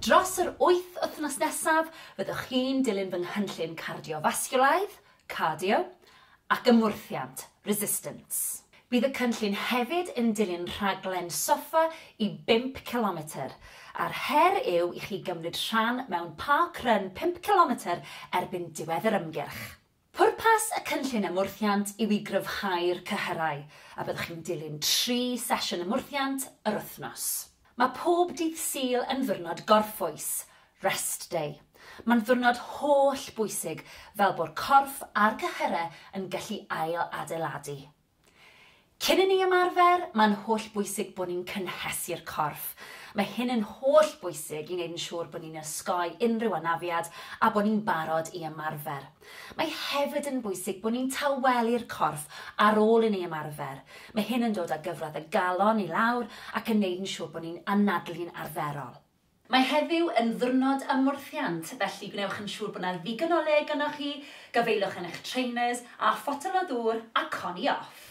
Dros yr wyth wythnos nesaf, fyddwch chi'n dilyn fy nghynllun cardiofasgiwlaidd, cardio, ac ymwrthiant, resistance. Bydd y cynllun hefyd yn dilyn rhaglen soffa i bump cilometr, a'r her yw i chi gymryd rhan mewn park run pump cilometr erbyn diwedd yr ymgyrch. Pwrpas y Cynllun Ymwrthiant yw i gryfhau'r cyhyrau, a byddwch chi'n dilyn tri sesiwn ymwrthiant yr wythnos. Mae pob dydd Sul yn ddiwrnod gorffwys, Rest Day. Mae'n ddiwrnod holl bwysig fel bo'r corff a'r cyhyrau yn gallu ail-adeiladu. Cyn i ni ymarfer, mae'n hollbwysig bod ni'n cynhesu'r corff. Mae hyn yn hollbwysig i wneud yn siŵr bod ni'n osgoi unrhyw anafiad a bod ni'n barod i ymarfer. Mae hefyd yn bwysig bod ni'n tawelu'r corff ar ôl i ni ymarfer. Mae hyn yn dod â gyfradd y galon i lawr ac yn wneud yn siŵr bod ni'n anadlu'n arferol. Mae heddiw yn ddiwrnod ymwrthiant, felly gwnewch yn siŵr bod 'na ddigon o le gynnoch chi, gafaelwch yn eich trainers, a photel o ddŵr a coni off!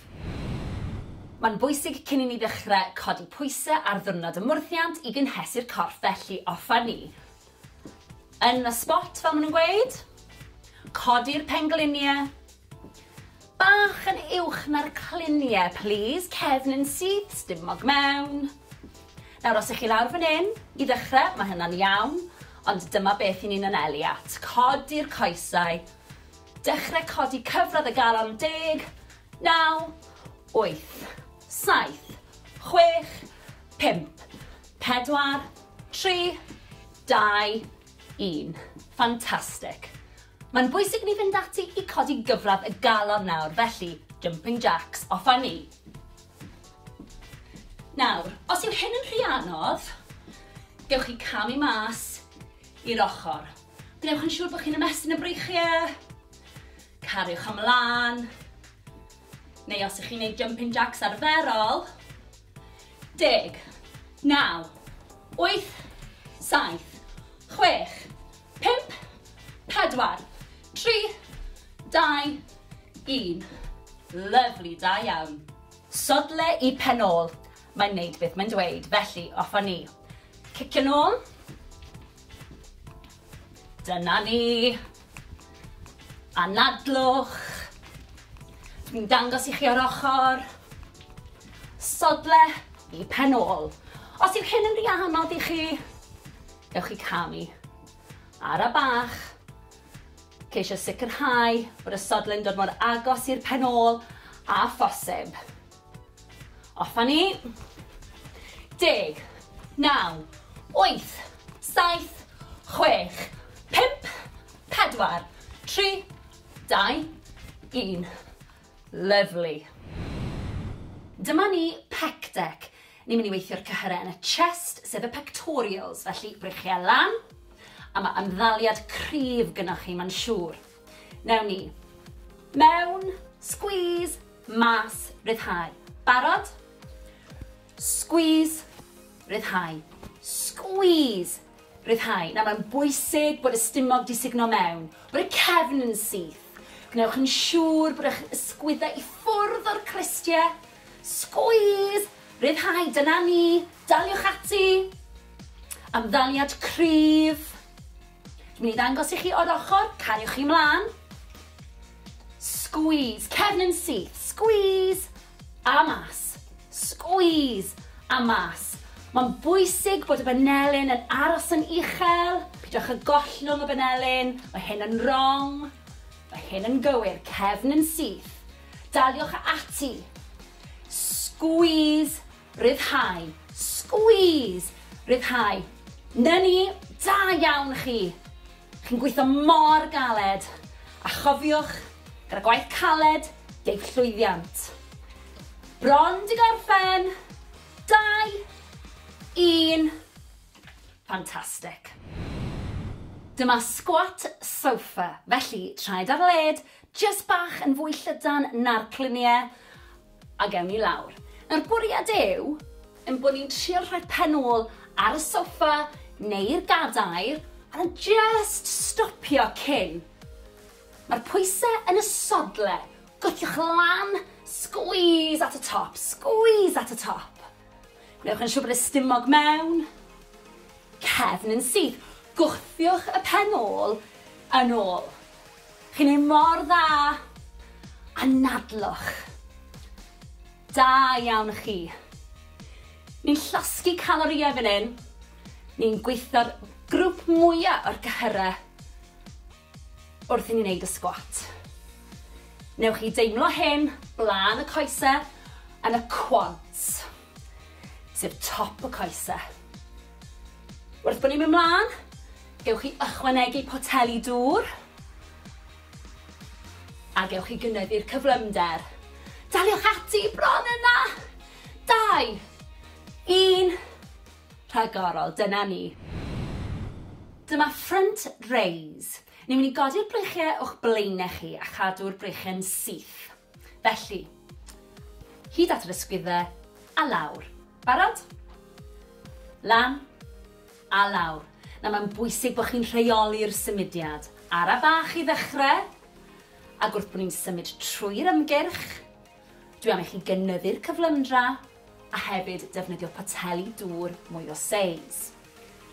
Mae'n bwysig cyn i ni ddechrau codi pwysau ar ddiwrnod ymwrthiant i gynhesu'r corff, felly offer ni yn y spot fel maen nhw'n gweud, codi'r pengliniau, Bach yn uwch na'r clunie plîs, cefn yn syth, stumog mewn. Nawr os 'ych chi lawr fan 'yn, i ddechre, ma' hynna'n iawn, ond dyma beth 'yn ni'n anelu at, codi'r coesau, dechre codi cyfradd y galon, deg, naw, wyth, saith, chwech, pump, pedwar, tri, dau, un. Fantastic! Mae'n bwysig i ni fynd ati i codi gyfradd y galon nawr, felly, jumping jacks, off â ni! Nawr, os yw hyn yn rhy anodd, gewch chi camu mas i'r ochr. Gwnewch yn siŵr bod chi'n ymestyn y breichiau, cariwch ymlaen, neu os ych chi'n gwneud jumping jacks arferol, Deg. Naw. Wyth. Saith. Chwech. Pump. Pedwar. Tri. Dau. Un. Lyfli, da iawn. Sodle i pen ôl. Mae'n neud beth mae'n dweud, felly off a ni. Cicio nôl. Dyna ni. Anadlwch. Dwi'n dangos i chi o'r ochr. Sodle i pen ôl. Os yw hyn yn rhy anodd i chi, gewch chi camu. Ara bach. Ceisio sicrhau bod y sodle'n dod mor agos i'r pen ôl a phosib. Off a ni. Deg. Naw. Wyth. Saith. Chwech. Pump. Pedwar. Tri. Dau. Un. Lyfli. Dyma ni pec deck. Ni'n mynd i weithio'r cyhyrau yn y chest, sef y pectorials, felly brychiau lan, a mae ymddaliad cryf gynnwch chi, mae'n siŵr. Newn ni. Mewn, squeeze, mas, ryddhau. Barod? Squeeze, ryddhau. Squeeze, ryddhau. Nawr mae'n bwysig bod y stumog di sugno mewn, bod y cefn yn syth. Gwnewch yn siŵr bod eich ysgwyddau i ffwrdd o'r cristiau. Squeeze, ryddhau, dyna ni, daliwch ati. Amddaliad cryf. Dwi'n mynd i ddangos i chi o'r ochr, cariwch chi mlaen. Squeeze, cefn yn syth, squeeze, a mas. Squeeze, a mas. Mae'n bwysig bod y banelyn yn aros yn uchel, pidwch y gollwng y banelyn, mae hyn yn wrong, mae hyn yn gywir, cefn yn syth. Daliwch ati. Squeeze Rhyddhau. Squeeze! Rhyddhau. 'Na ni! Da iawn chi! Chi'n gweithio mor galed! A chofiwch, gyda gwaith caled, deiff llwyddiant. Bron 'di gorffen! Dau! Un! Fantastic! Dyma squat sofa, felly traed ar led, jyst bach yn fwy llydan na'r clunie, A gewn ni lawr. Nawr bwriad yw ein bod ni'n trio rhoi pen ôl ar y soffa neu'r gadair a jyst stopio cyn. Mae'r pwysau yn y sodle, gwthiwch lan, squeeze at y top, squeeze at y top. Gwnewch yn siŵr bod y stumog mewn, cefn yn syth, gwthiwch y pen ôl yn ôl. Chi'n neud mor dda! Anadlwch! Da iawn chi! Ni'n llosgi calorïau fan hyn, ni'n gweithio'r grwp mwya o'r cyhyrau wrth i ni neud y sgwat. Newch chi deimlo hyn blaen y coesau yn y quads. sef top y coese. Wrth bod ni'n mynd mlaen, gewch chi ychwanegu poteli dŵr a gewch chi gynyddu'r cyflymder. Daliwch ati bron yna! Dau, un, rhagorol, dyna ni. Dyma front raise. Ni'n mynd i godi'r breichiau o'ch blaenau chi a chadw'r breichiau'n syth. Felly, hyd at yr ysgwyddau, a lawr. Barod? Lan, a lawr. Nawr mae'n bwysig bod chi'n rheoli'r symudiad. Ara bach i ddechrau, ac wrth bod ni'n symud trwy'r ymgyrch, dwi am i chi gynyddu'r cyflymdra, a hefyd defnyddio poteli dŵr mwy o seis.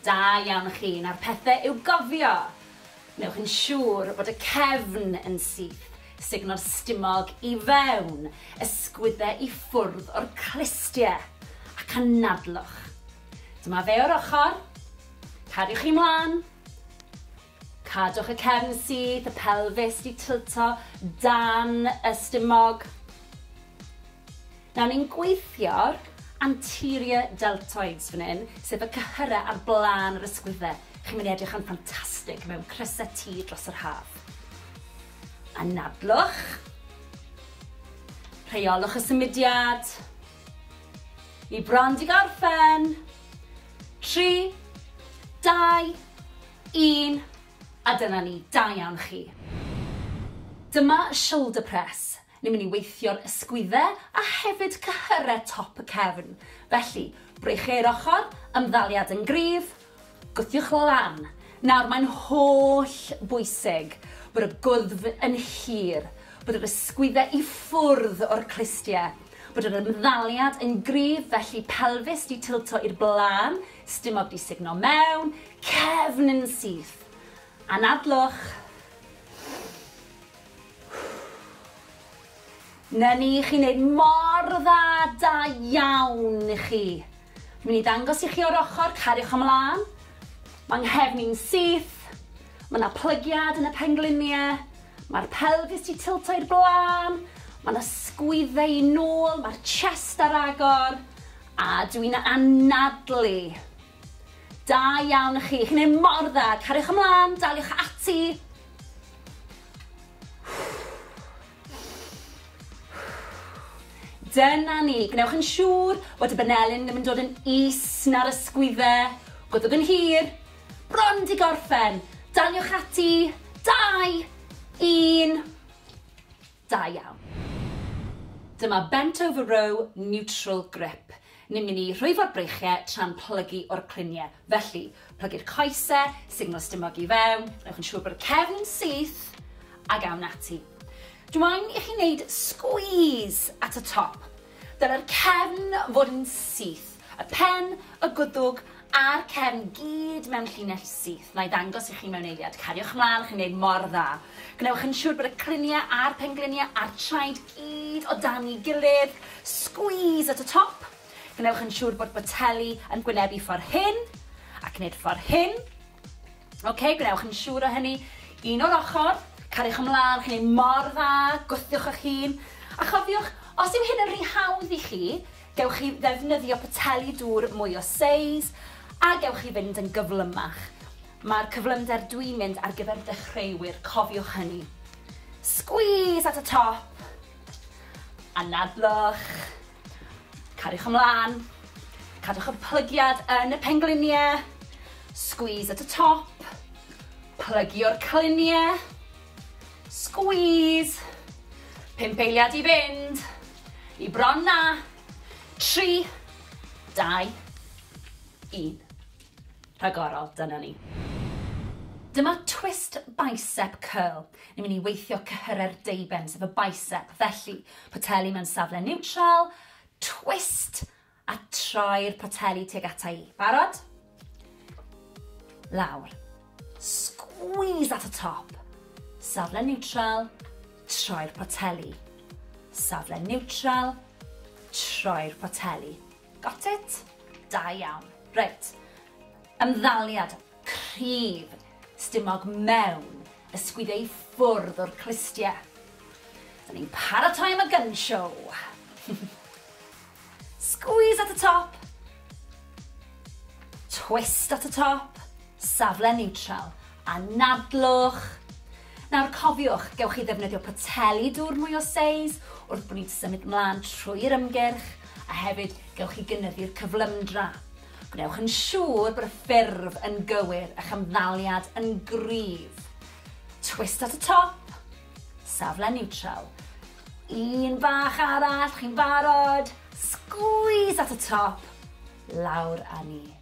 Da iawn chi, nawr pethe i'w gofio! Wnewch yn siŵr bod y cefn yn syth, sugno'r stumog i fewn, ysgwydde i ffwrdd o'r clustie, ac anadlwch. Dyma fe o'r ochr. Cariwch chi mlan. Cadwch y cefn syth, y pelfis 'di tilto dan y stumog. Nawr ni'n gweithio'r anterior deltoids fan hyn, sef y cyhyrau ar blaen yr ysgwydde. Chi'n mynd i edrych yn ffantastig mewn crysau T dros yr haf. Anadlwch. Rheolwch y symudiad. Ni bron 'di gorffen. Tri, dau, Un, a dyna ni, da iawn chi. Dyma y shoulder press, ni'n mynd i weithio'r ysgwydde a hefyd cyhyrau top y cefn, felly, breichiau'r ochr, ymddaliad yn gryf, gwthiwch lan. Nawr, mae'n holl bwysig bod y gwddf yn hir, bod yr ysgwydde i ffwrdd o'r clustiau, bod yr ymddaliad yn gryf, felly pelfis 'di tilto i'r blaen, Stumog di sugno mewn cefn yn syth. Anadlwch. Na ni, chi'n neud mor dda, da iawn i chi. Mi'n i ddangos i chi o'r ochr, cariwch ymlaen. Mae nghefn i'n syth. Mae yna plygiad yn y pengliniau. Mae'r pelfis di tilto i'r blaen. Mae yna sgwydde i nôl, mae'r chest ar agor. A dw i'n anadlu! Da iawn chi, chi'n neud mor dda, cariwch ymlan, daliwch ati! Dyna ni, gwnewch yn siŵr bod y banelyn ddim yn dod yn is na'r ysgwydde, gwddwg yn hir, bron di gorffen, daliwch ati, dau, un, Da iawn. Dyma bent over row neutral grip. Ni'n mynd i rhwyfo'r breichie tra'n plygu o'r clunie. Felly, plygu'r coese, signal stumog i fewn, newch yn siŵr bod y cefn yn syth, ag awn ati. Dw i'n i chi wneud squeeze at y top. Dylai'r cefn fod yn syth, y pen, y gwddwg a'r cefn gyd mewn llinell syth. Na'i ddangos i chi mewn eiliad. Cariwch mlaen, chi'n gwneud mor dda. Gwnewch yn siŵr bod y cliniau a'r pengliniau a'r traed gyd o dan'i gilydd. Squeeze at y top. Gwnewch yn siŵr bod boteli yn gwynebu ffordd hyn, ac wneud ffordd hyn. Ok, gwnewch yn siŵr o hynny. Un o'r ochr, cariwch ymlaen, chi'n ei mor dda, gwthiwch eich hun. A chofiwch, os yw hyn yn rhy hawdd i chi, gewch chi ddefnyddio poteli dŵr mwy o seis, a gewch chi fynd yn gyflymach. Mae'r cyflymder dwi'n mynd ar gyfer dechreuwyr, cofiwch hynny. Squeeze at y top, anadlwch. Cariwch ymlaen. Cadwch y plygiad yn y pengliniau. Squeeze at y top. Plygio'r cliniau. Squeeze. Pump eiliad i fynd. I bron na. Tri. Dau. Un. rhagorol, dyna ni. Dyma twist bicep curl. Ni'n mynd i weithio cyhyrau'r deuben, sef y bicep. Felly, poteli mewn safle niwtral, twist, a troi'r poteli tuag ata i. Barod? Lawr. Squeeze at y top. Safle niwtral, troi'r poteli. Safle niwtral, troi'r poteli. Got it? Da iawn. Reit. Ymddaliad cryf stumog mewn ysgwyd ei ffwrdd o'r clustie. Dyn ni'n paratoi am y gun show. Squeeze at y top. Twist at y top. Safle neutral. Anadlwch. Nawr cofiwch, gewch chi ddefnyddio poteli dŵr mwy o seis wrth bod ni'n symud mlaen trwy'r ymgyrch, a hefyd gewch chi gynyddu'r cyflymdra. Gwnewch yn siŵr bod y ffurf yn gywir, a'ch ymddaliad yn gryf. Twist at y top, safle niwtral. Un bach arall, chi'n barod? Sgwîs at y top, lawr â ni.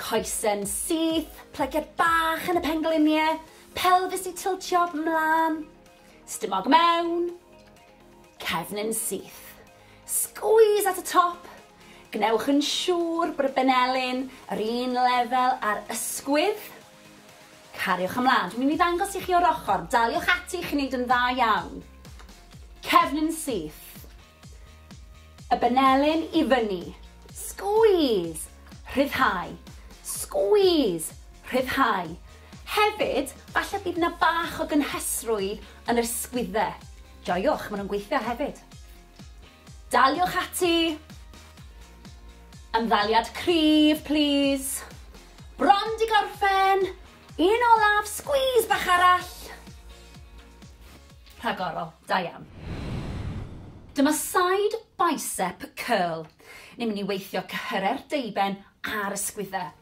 Coesyn syth, plygiad bach yn y pengliniau, pelfis i tiltio 'mlan, stumog mewn, cefnyn syth. Squeeze at y top, gwnewch yn siŵr bod y benelin yr un lefel â'r ysgwydd. Cariwch ymlaen. Dwi'n mynd i ddangos i chi o'r ochr. Daliwch ati, chi'n neud yn dda iawn. Cefnyn syth. Y benelin i fyny. Squeeze! Rhyddhau. Squeeze! Rhyddhau. Hefyd, falle bydd yna bach o gynhesrwydd yn yr sgwydde. Joiwch, maen nhw'n gweithio hefyd. Daliwch ati. Ymddaliad cryf, plîs. Bron di gorffen! Un olaf, squeeze bach arall. Rhagorol, da iawn. Dyma side bicep curl. Ni'n mynd i weithio cyhyrau'r deuben a'r ysgwyddau.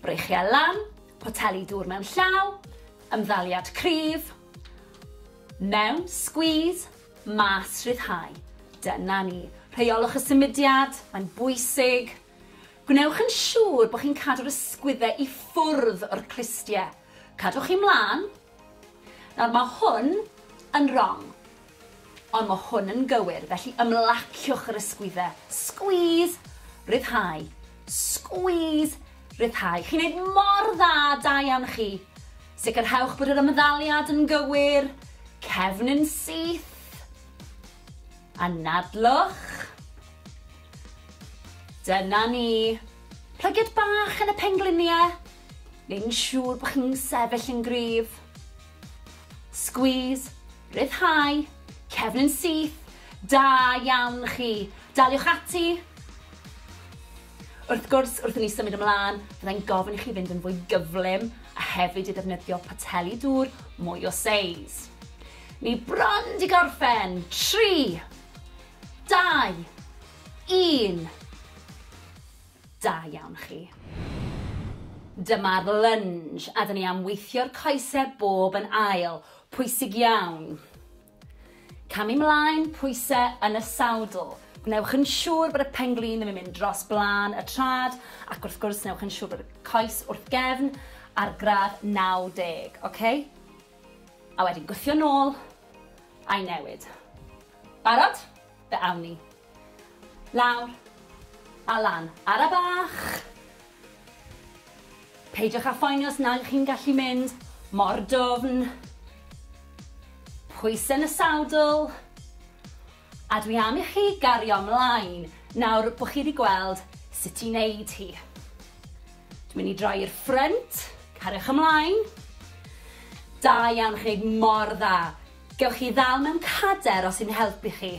Breichiau lan, poteli dŵr mewn llaw, ymddaliad cryf, mewn, squeeze, mas, rhyddhau. Dyna ni. Rheiolwch y symudiad, mae'n bwysig. Gwnewch yn siŵr bod chi'n cadw'r ysgwyddau i ffwrdd o'r clustiau. Cadwch chi mlaen. Nawr, mae hwn yn rong. Ond mae hwn yn gywir, felly ymlaciwch yr ysgwyddau. Squeeze, ryddhau. Squeeze, ryddhau. Chi'n neud mor dda, da iawn chi. Sicrhewch bod yr ymddaliad yn gywir. Cefn yn syth. Anadlwch. Dyna ni! Plygiad bach yn y penglinie! Neu'n siŵr bod chi'n sefyll yn gryf. Squeeze, rhyddhau, cefn yn syth, da iawn chi! Daliwch ati! Wrth gwrs, wrth i ni symud ymlaen, fyddai'n gofyn i chi fynd yn fwy gyflym a hefyd i ddefnyddio poteli dŵr mwy o seis. Ni bron 'di gorffen! Tri! Dau! Un! Da iawn chi. Dyma'r lunge a 'da ni am weithio'r coese bob yn ail. Pwysig iawn. Camu 'mlaen, pwyse yn y sawdl. Gwnewch yn siŵr bod y pen-glin ddim yn mynd dros blaen y trad ac wrth gwrs newch yn siŵr bod y coes wrth gefn ar gradd 90, oce? A wedyn gwthio nôl a'i newid. Barod? Fe awn ni. Lawr. A lan. Ara bach! Peidiwch â phoeni os nag ych chi'n gallu mynd mor dwfn. Pwysau yn y sadl. A dwi am i chi gario ymlaen nawr bod chi wedi gweld sut i wneud hi. Dwi'n mynd i droi i'r ffrynt. Cariwch ymlaen. Da iawn, chi'n gwneud mor dda. Gewch chi ddal mewn cader os i'n helpu chi.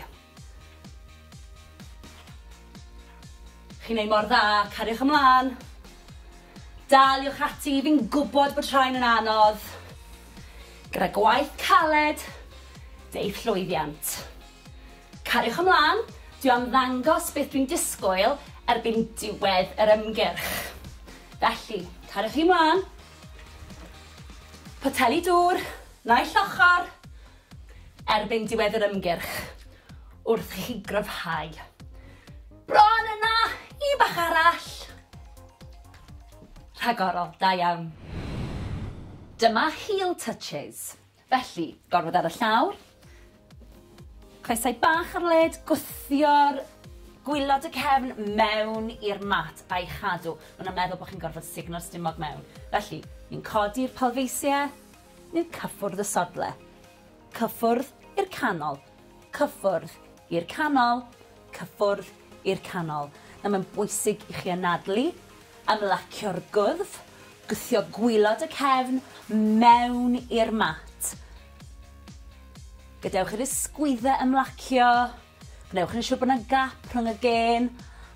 Chi'n neud mor dda, cariwch ymlan. Daliwch ati, fi'n gwbod bod rhain yn anodd. Gyda gwaith caled, deiff llwyddiant. Cariwch ymlan, dwi am ddangos beth dwi'n disgwyl erbyn diwedd yr ymgyrch. Felly, cariwch chi mlan. Poteli dŵr. Naill ochr, erbyn diwedd yr ymgyrch, wrth i chi gryfhau. Bron yna! Un bach arall! Rhagorol, da iawn. Dyma heel touches. Felly, gormod ar y llawr, Coesau bach ar led, gwthio'r gwilod y cefn mewn i'r mat a'i chadw. Maen nhw'n meddwl bod chi'n gorfod sugno'r stumog mewn. Felly, ni'n codi'r palfeisiau, ni'n cyffwrdd y sodle. Cyffwrdd i'r canol. Cyffwrdd i'r canol. Cyffwrdd i'r canol. Nawr, mae'n bwysig i chi anadlu, ymlacio'r gwddf, gwthio gwilod y cefn mewn i'r mat. Gadewch i'r ysgwyddau ymlacio. Gwnewch yn siŵr bod yna gap rhwng y gên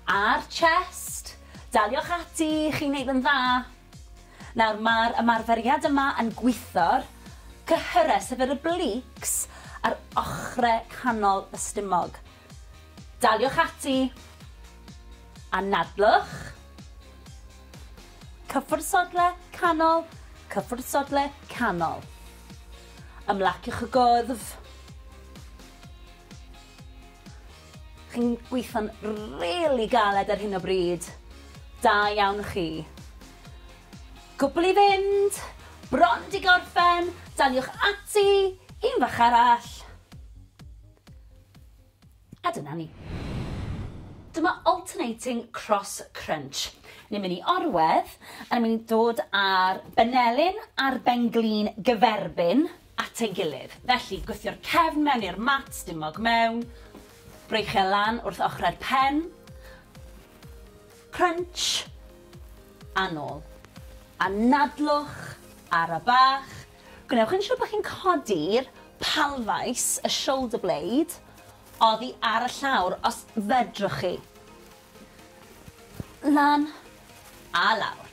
a'r chest. Daliwch ati, chi'n neud yn dda. Nawr, mae'r ymarferiad yma yn gwitho'r cyhyrau, sef yr obliques, ar ochrau canol y stumog. Daliwch ati! Anadlwch! Cyffwrdd sodle canol, cyffwrdd sodle canol. Ymlaciwch y gwddf. Chi'n gweithio'n rili galed ar hyn o bryd. Da iawn chi. Cwbl i fynd. Bron di gorffen. Daliwch ati. Un fach arall. A dyna ni. Dyma alternating cross crunch. Ni'n mynd i orwedd, a ni'n mynd i dod â'r benelin a'r benglin gyferbyn at ei gilydd. Felly, gwthio'r cefn mewn i'r mat, stumog mewn, breichio e lan wrth ochrau'r pen, crunch, a nôl. A nadlwch, ara bach, Gwnewch yn siwr bod chi'n codi'r palfais, y shoulder blade, oddi ar y llawr, os fedrwch chi. Lan a lawr.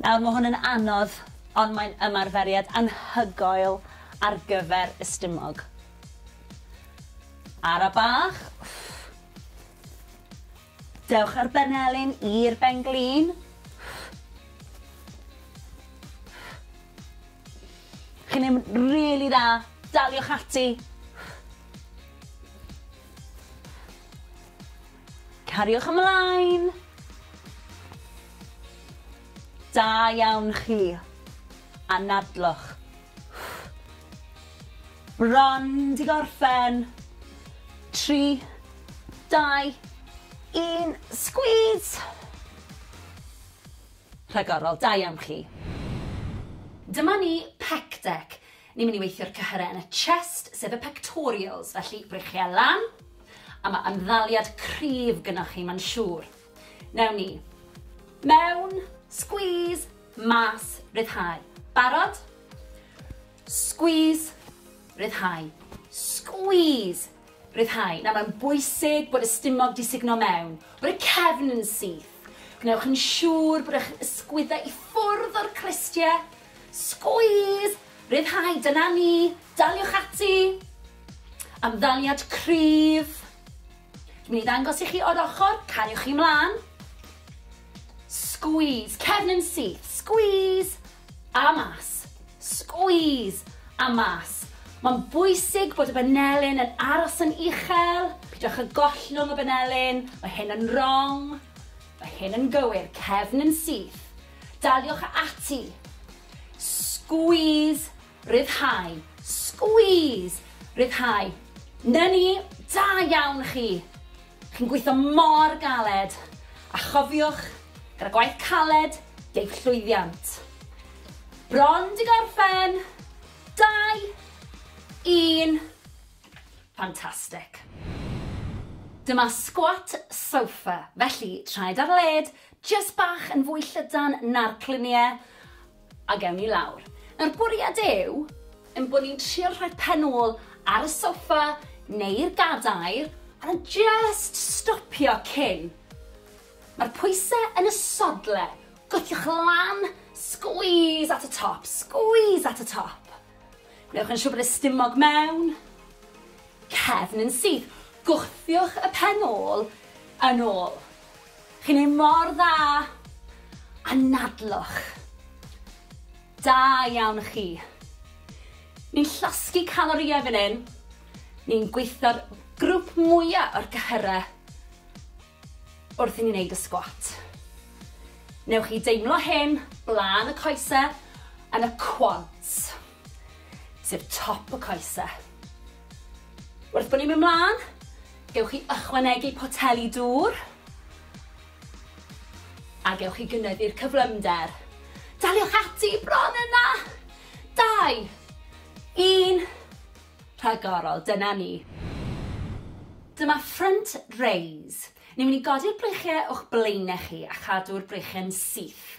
Nawr, mae hwn yn anodd, ond mae'n ymarferiad anhygoel ar gyfer y stumog. Ara bach. Dewch â'r benelin i'r ben-glin. Chi'n neud yn rili dda. Daliwch ati. Cariwch ymlaen. Da iawn chi. Anadlwch. Run, di gorffen. Tri, dau, un, sgwîs! Rhagorol, da iawn chi. Dyma ni, pec dec. Ni'n mynd i weithio'r cyhyrau yn y chest, sef y pectorials, felly breichiau lan, a mae ymddaliad cryf gynoch chi, mae'n siŵr. Newn ni. Mewn. Squeeze. Mas. Ryddhau. Barod? Squeeze. Ryddhau. Squeeze. Ryddhau. Nawr mae'n bwysig bod y stumog di sugno mewn, bod y cefn yn syth. Gwnewch yn siŵr bod eich ysgwyddau i ffwrdd o'r cristiau. Squeeze! Ryddhau, dyna ni. Daliwch ati. Ymddaliad cryf. Dwi'n mynd i ddangos i chi o'r ochr, cariwch chi mlaen. Squeeze, cefn yn syth, squeeze, a mas. Squeeze, a mas. Mae'n bwysig bod y banelyn yn aros yn uchel, pidwch y gollwng y banelyn, mae hyn yn wrong, mae hyn yn gywir, cefn yn syth. Daliwch ati. Squeeze Rhyddhau. Squeeze! Rhyddhau. 'Na ni! Da iawn chi! Chi'n gweithio mor galed! A chofiwch, gyda gwaith caled, deiff llwyddiant. Bron 'di gorffen! Dau! Un! Fantastic! Dyma squat sofa, felly traed ar led, jyst bach yn fwy llydan na'r clunie, A gewn ni lawr. Nawr bwriad yw ein bod ni'n trio rhoi pen ôl ar y soffa neu'r gadair a jyst stopio cyn. Mae'r pwysau yn y sodle, gwthiwch lan, squeeze at y top, squeeze at y top. Newch yn siŵr bod y stumog mewn, cefn yn syth, gwthiwch y pen ôl yn ôl. Chi'n neud mor dda! Anadlwch! Da iawn chi! Ni'n llosgi calorïau fan hyn, ni'n gweithio'r grwp mwya o'r cyhyrau wrth i ni neud y sgwat. Newch chi deimlo hyn blaen y coesau yn y quads. sef top y coese. Wrth bod ni'n mynd mlaen, gewch chi ychwanegu poteli dŵr a gewch chi gynyddu'r cyflymder. Daliwch ati bron yna! Dau, un, rhagorol, dyna ni. Dyma front raise. Ni'n mynd i godi'r breichiau o'ch blaenau chi a chadw'r breichiau'n syth.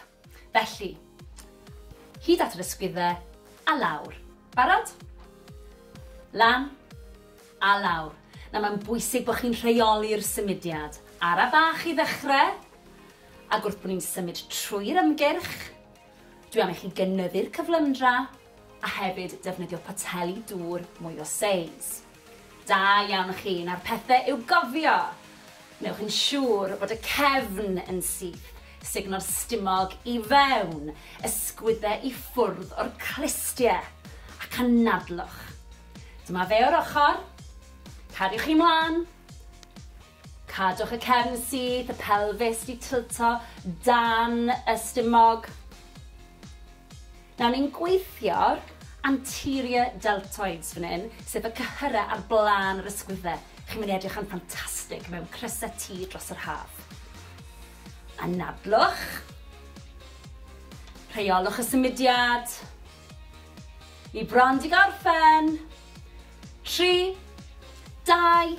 Felly, hyd at yr ysgwyddau, a lawr. Barod? Lan, a lawr. Nawr mae'n bwysig bod chi'n rheoli'r symudiad. Ara bach i ddechrau, ac wrth bod ni'n symud trwy'r ymgyrch, dwi am i chi gynyddu'r cyflymdra, a hefyd defnyddio poteli dŵr mwy o seis. Da iawn chi, nawr pethe i'w gofio! Wnewch yn siŵr bod y cefn yn syth, sugno'r stumog i fewn, ysgwydde i ffwrdd o'r clustie, ac anadlwch. Dyma fe o'r ochr, cadwch chi mlan, Cadwch y cefn syth, y pelfis 'di tilto dan y stumog. Nawr ni'n gweithio'r anterior deltoids fan hyn, sef y cyhyrau ar blaen yr ysgwydde. Chi'n mynd i edrych yn ffantastig mewn crysau T dros yr haf. Anadlwch. Rheolwch y symudiad. Ni bron 'di gorffen. Tri, dau,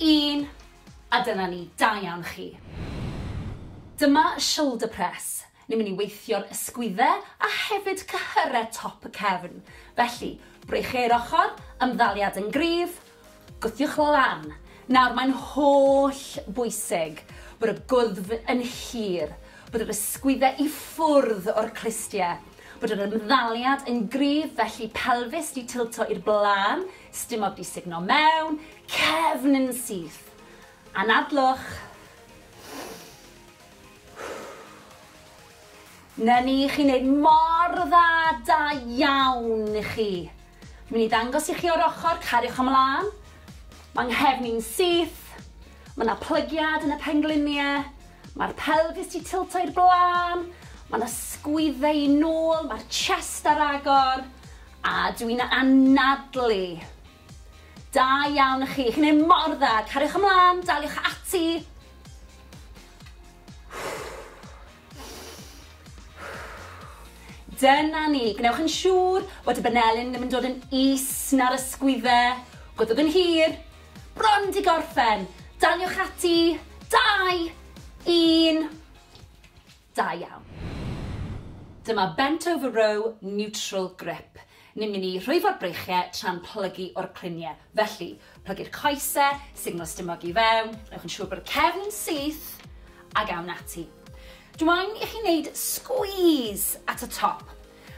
Un, a dyna ni, da iawn chi. Dyma y shoulder press, ni'n mynd i weithio'r ysgwydde a hefyd cyhyrau top y cefn, felly, breichiau'r ochr, ymddaliad yn gryf, gwthiwch lan. Nawr, mae'n holl bwysig bod y gwddf yn hir, bod yr ysgwydde i ffwrdd o'r clustiau, bod yr ymddaliad yn gryf, felly pelfis 'di tilto i'r blaen, Stumog di sugno mewn cefn yn syth. Anadlwch. Na ni, chi'n neud mor dda, da iawn i chi. Mi'n i ddangos i chi o'r ochr, cariwch ymlaen. Mae nghefn i'n syth. Mae yna plygiad yn y pengliniau. Mae'r pelfis di tilto i'r blaen. Mae yna sgwydde i nôl, mae'r chest ar agor. A dw i'n anadlu! Da iawn chi, chi'n neud mor dda, cariwch ymlan, daliwch ati! Dyna ni, gwnewch yn siŵr bod y banelyn ddim yn dod yn is na'r ysgwydde, gwddwg yn hir, bron di gorffen, daliwch ati, dau, un, Da iawn. Dyma bent over row neutral grip. Ni'n mynd i rhwyfo'r breichie tra'n plygu o'r clunie. Felly, plygu'r coese, signal stumog i fewn, newch yn siŵr bod y cefn yn syth, ag awn ati. Dw i'n i chi wneud squeeze at y top.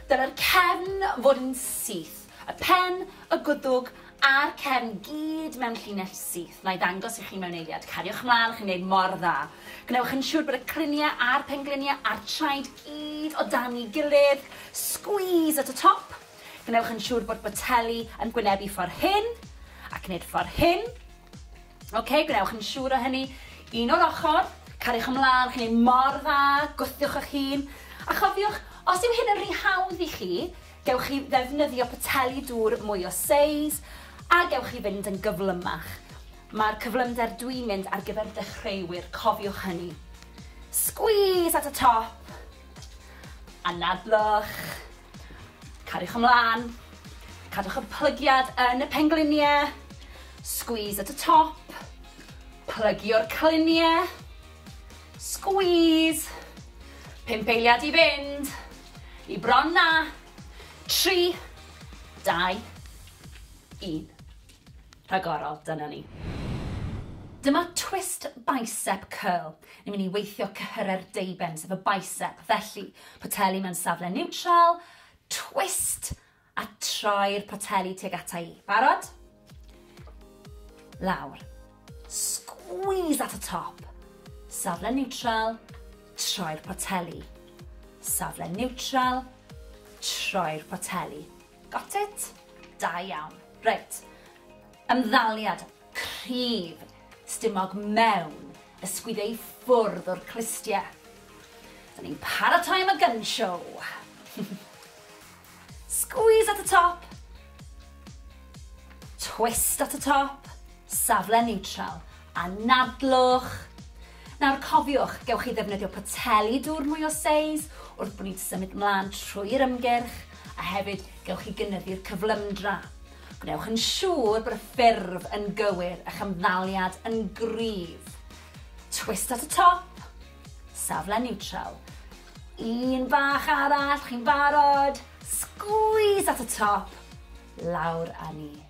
Dylai'r cefn fod yn syth, y pen, y gwddwg a'r cefn gyd mewn llinell syth. Na'i ddangos i chi mewn eiliad. Cariwch mlaen, chi'n gwneud mor dda. Gwnewch yn siŵr bod y cryniau a'r pengliniau a'r traed gyd o dan'i gilydd. Squeeze at y top. Gwnewch yn siŵr bod boteli yn gwynebu ffordd hyn, ac nid ffordd hyn. Ok, gwnewch yn siŵr o hynny. Un o'r ochr, cariwch ymlaen, chi'n ei mor dda, gwthiwch eich hun. A chofiwch, os yw hyn yn rhy hawdd i chi, gewch chi ddefnyddio poteli dŵr mwy o seis, a gewch chi fynd yn gyflymach. Mae'r cyflymder dwi'n mynd ar gyfer dechreuwyr, cofiwch hynny. Squeeze at y top, anadlwch. Cariwch ymlaen, cadwch y plygiad yn y pengliniau, squeeze at y top, plygio'r cliniau, squeeze, pump eiliad i fynd, i bron na, tri, dau, un. rhagorol, dyna ni. Dyma twist bicep curl. Ni'n mynd i weithio cyhyrau'r deuben, sef y bicep. Felly, poteli mewn safle niwtral, twist, a troi'r poteli tuag ata i. Barod? Lawr. Squeeze at y top. Safle niwtral, troi'r poteli. Safle niwtral, troi'r poteli. Got it? Da iawn. Reit. Ymddaliad cryf stumog mewn ysgwyd ei ffwrdd o'r clustie. Dyn ni'n paratoi am y gun show. Squeeze at y top. Twist at y top. Safle neutral. Anadlwch. Nawr cofiwch, gewch chi ddefnyddio poteli dŵr mwy o seis wrth bod ni'n symud mlaen trwy'r ymgyrch, a hefyd gewch chi gynyddu'r cyflymdra. Gwnewch yn siŵr bod y ffurf yn gywir, a'ch ymddaliad yn gryf. Twist at y top, safle niwtral. Un bach arall, chi'n barod? Sgwîs at y top, lawr â ni.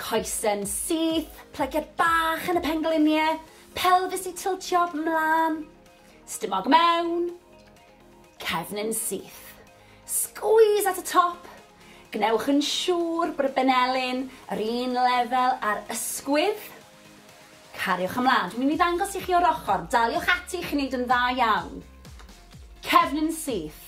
Coesyn syth, plygiad bach yn y pengliniau, pelfis i tiltio 'mlan, stumog mewn, cefnyn syth. Sgwîs at y top, gwnewch yn siŵr bod y benelin yr un lefel â'r ysgwydd. Cariwch ymlan, dwi'n mynd i ddangos i chi o'r ochr, daliwch ati i chi wneud yn dda iawn. Cefnyn syth,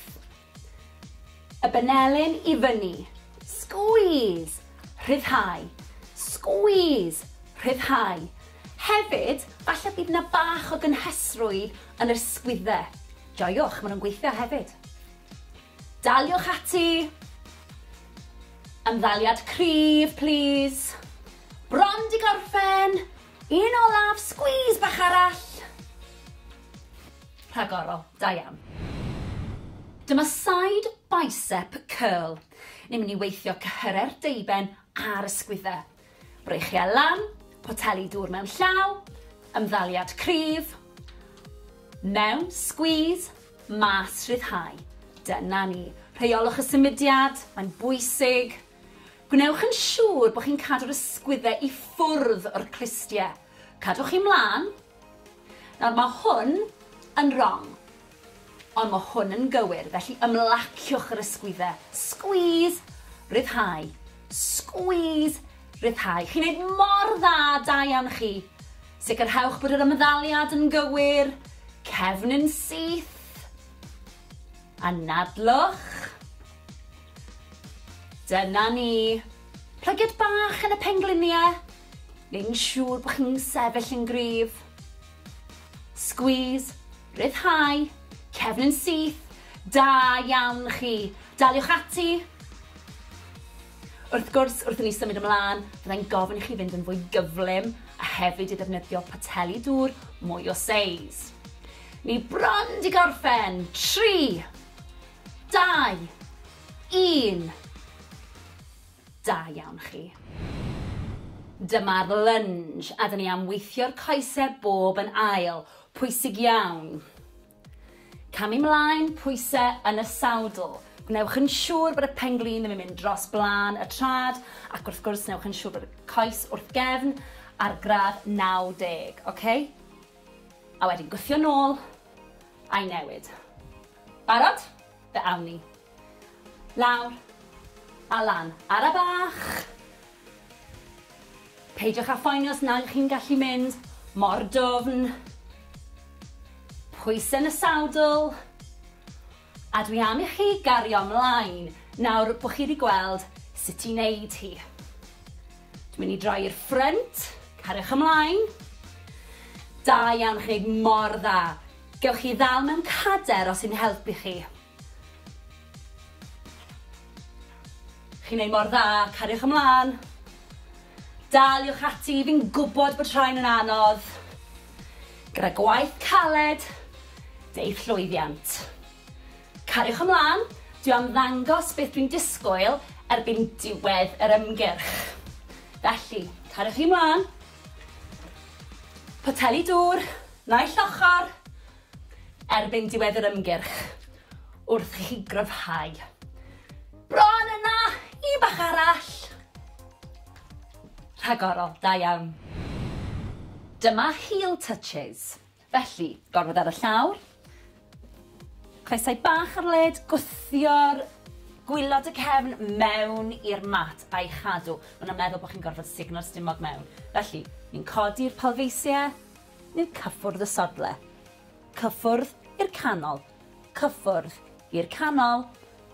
Y benelin i fyny. Squeeze! Rhyddhau. Squeeze! Rhyddhau. Hefyd, falle bydd yna bach o gynhesrwydd yn yr sgwydde. Joiwch, maen nhw'n gweithio hefyd. Daliwch ati. Ymddaliad cryf, plîs. Bron di gorffen! Un olaf, squeeze bach arall. Rhagorol, da iawn. Dyma side bicep curl. Ni'n mynd i weithio cyhyrau'r deuben a'r ysgwyddau. Breichiau lan, poteli dŵr mewn llaw, ymddaliad cryf, mewn, squeeze, mas, rhyddhau. Dyna ni. Rheiolwch y symudiad, mae'n bwysig. Gwnewch yn siŵr bod chi'n cadw'r ysgwyddau i ffwrdd o'r clustiau. Cadwch chi mlaen. Nawr mae hwn yn wrong. Ond mae hwn yn gywir, felly ymlaciwch yr ysgwyddau. Squeeze, rhyddhau. Squeeze, rhyddhau. Chi'n neud mor dda, da iawn chi. Sicrhewch bod yr ymddaliad yn gywir. Cefn yn syth. Anadlwch. Dyna ni. Plygiad bach yn y penglinie. Neu'n siŵr bod chi'n sefyll yn gryf. Squeeze. Rhyddhau. Cefn yn syth. Da iawn chi. Daliwch ati. Wrth gwrs, wrth i ni symud ymlaen, fyddai'n gofyn i chi fynd yn fwy gyflym a hefyd i ddefnyddio poteli dŵr mwy o seis. Ni bron di gorffen. Tri. Dau! Un! Da iawn chi. Dyma'r lunge a 'da ni am weithio'r coese bob yn ail. Pwysig iawn. Camu 'mlaen, pwyse yn y sawdl. Gwnewch yn siŵr bod y pen-glin ddim yn mynd dros blaen y trad ac wrth gwrs newch yn siŵr bod y coes wrth gefn ar gradd 90, oce? A wedyn gwthio nôl a'i newid. Barod? Fe awn ni. Lawr. A lan. Ara bach! Peidiwch â phoeni os nad ych chi'n gallu mynd mor dwfn. Pwysau yn y sadl. A dwi am i chi gario ymlaen nawr bod chi wedi gweld sut i wneud hi. Dwi'n mynd i droi i'r ffrynt. Cariwch ymlaen. Da iawn, chi'n gwneud mor dda. Gewch chi ddal mewn cader os yn helpu chi. Chi'n neud mor dda, cariwch ymlan. Daliwch ati, fi'n gwbod bod rhain yn anodd. Gyda gwaith caled, deith llwyddiant. Cariwch ymlan, dwi am ddangos beth dwi'n disgwyl erbyn diwedd yr ymgyrch. Felly, cariwch chi mlan. Poteli dŵr. Naill ochr, erbyn diwedd yr ymgyrch, wrth i chi gryfhau. Bron yna! Un bach arall! Rhagorol, da iawn. Dyma heel touches. Felly, gormod ar y llawr, Coesau bach ar led, gwthio'r gwylod y cefn mewn i'r mat a'i chadw. Maen nhw'n meddwl bod chi'n gorfod sugno'r stumog mewn. Felly, ni'n codi'r palfeisiau, ni'n cyffwrdd y sodle. Cyffwrdd i'r canol. Cyffwrdd i'r canol.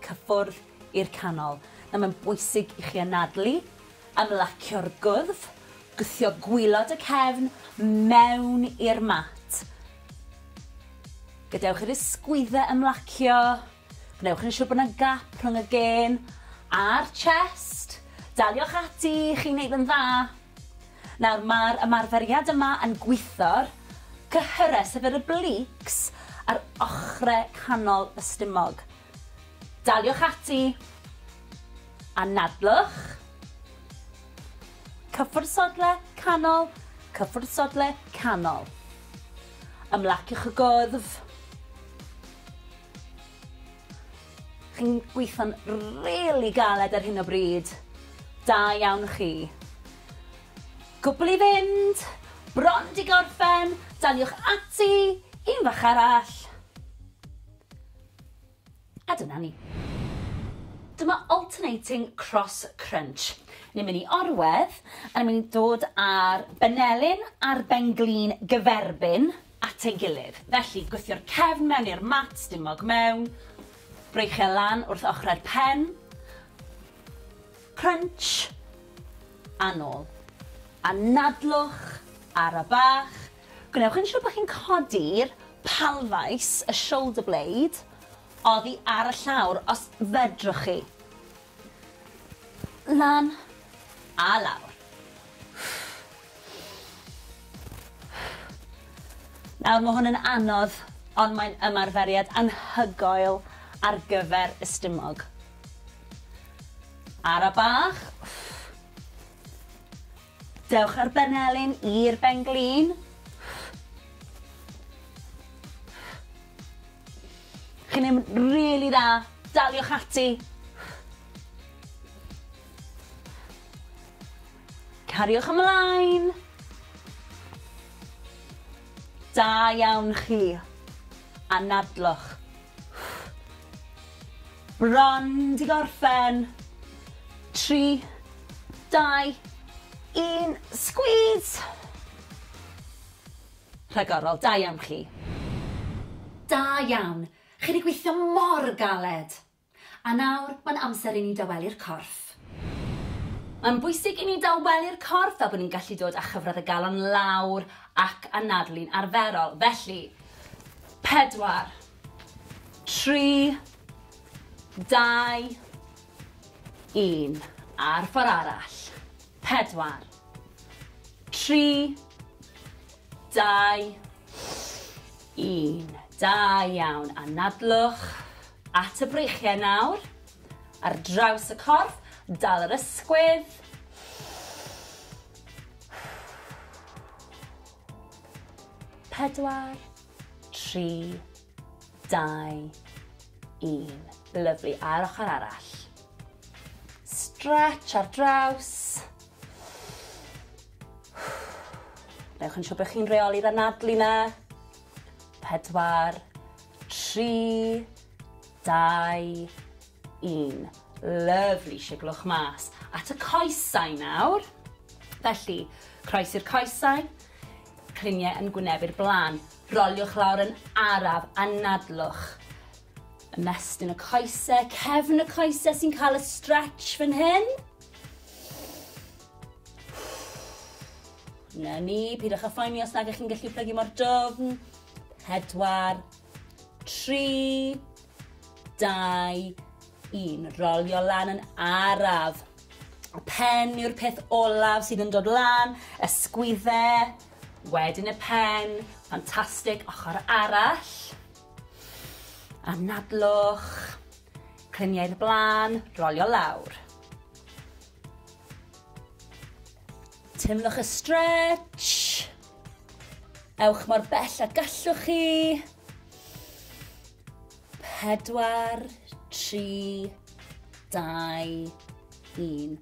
Cyffwrdd i'r canol. Nawr mae'n bwysig i chi anadlu Ymlacio'r gwddf, gwthio gwilod y cefn mewn i'r mat. Gadewch i'r ysgwyddau ymlacio, gwnewch yn siŵr bod yna gap rhwng y gên a'r chest. Daliwch ati, chi'n gwneud yn dda. Nawr, mae'r ymarferiad yma yn gwitho'r cyhyrau, sef yr obliques, a'r ochrau canol y stumog. Daliwch ati! Anadlwch! Cyffwrdd sodle canol, cyffwrdd sodle canol. Ymlaciwch y gwddf. Chi'n gweithio'n rili galed ar hyn o bryd. Da iawn chi. Cwbl i fynd, bron di gorffen, daliwch ati, un fach arall. A dyna ni. Dyma alternating cross crunch. Ni'n mynd i orwedd, a ni'n mynd i dod â'r benelin a'r benglin gyferbyn at ei gilydd. Felly, gwthio'r cefn mewn i'r mat, stumog mewn, breichio e lan wrth ochrau'r pen, crunch, a nôl. A nadlwch, ara bach, Gwnewch yn siwr bod chi'n codi'r palfais, y shoulder blade, oddi ar y llawr, os fedrwch chi. Lan a lawr. Nawr, mae hwn yn anodd, ond mae'n ymarferiad anhygoel ar gyfer y stumog. Ara bach. Dewch â'r benelin i'r ben-glin. Chi'n neud yn rili dda. Daliwch ati. Cariwch ymlaen. Da iawn chi. Anadlwch. Run, di gorffen. Tri, dau, un, sgwîs! Rhagorol, da iawn chi. Da iawn, chi di gweithio mor galed! A nawr, mae'n amser i ni dawelu'r corff. Mae'n bwysig i ni dawelu'r corff fel bod ni'n gallu dod â chyfradd y galon lawr ac anadlu'n arferol, felly, Pedwar. Tri. Dau. Un. A'r ffordd arall. Pedwar. Tri. Dau. Un. Da iawn. Anadlwch at y breichiau nawr. Ar draws y corff. Dal yr ysgwydd. Pedwar, tri, dau, un. Lyflu, a'r ochr arall. Stretch ar draws. Newch yn siŵr bod chi'n reoli'r anadlu na. Pedwar, tri, dau, Un. Lyfli, siglwch mas at y coesau nawr. Felly, croes i'r coesau, cliniau yn gwynebu'r blaen. Roliwch lawr yn araf, anadlwch. Ymestyn y coesau, cefn y coesau sy'n cael y stretch fan hyn. Na ni, pidwch â phoeni os nag ych chi'n gallu plygu mor dwfn. Pedwar, tri, Dau, un. Rolio lan yn araf. Y pen yw'r peth olaf sydd yn dod lan, ysgwydde, wedyn y pen, ffantastig, ochr arall. Anadlwch, cliniau'r blaen, rolio lawr. Teimlwch y stretch. Ewch mor bell a gallwch chi. Pedwar, tri, dau, un.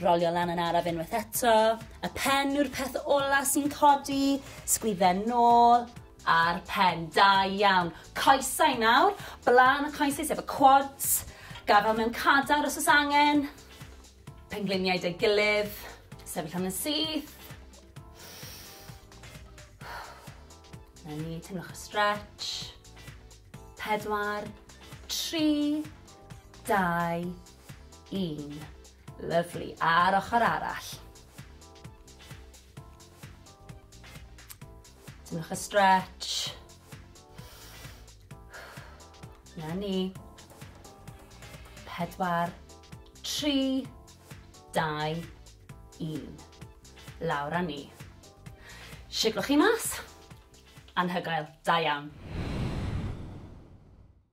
Rolio lan yn araf unwaith eto. Y pen yw'r peth ola sy'n codi. Sgwydden nôl a'r pen. Da iawn. Coesau nawr. Blaen y coesau sef y quads. Gafel mewn cadar os oes angen. Pengliniau 'da'i gilydd. Sefyll am yn syth. 'Na ni, teimlwch y stretch. Pedwar, tri, dau, un. Lyfli. A'r ochr arall. Teimlwch y stretch. Na ni. Pedwar, tri, dau, un. Lawr a ni. Siglwch chi mas. Anhygoel, da iawn.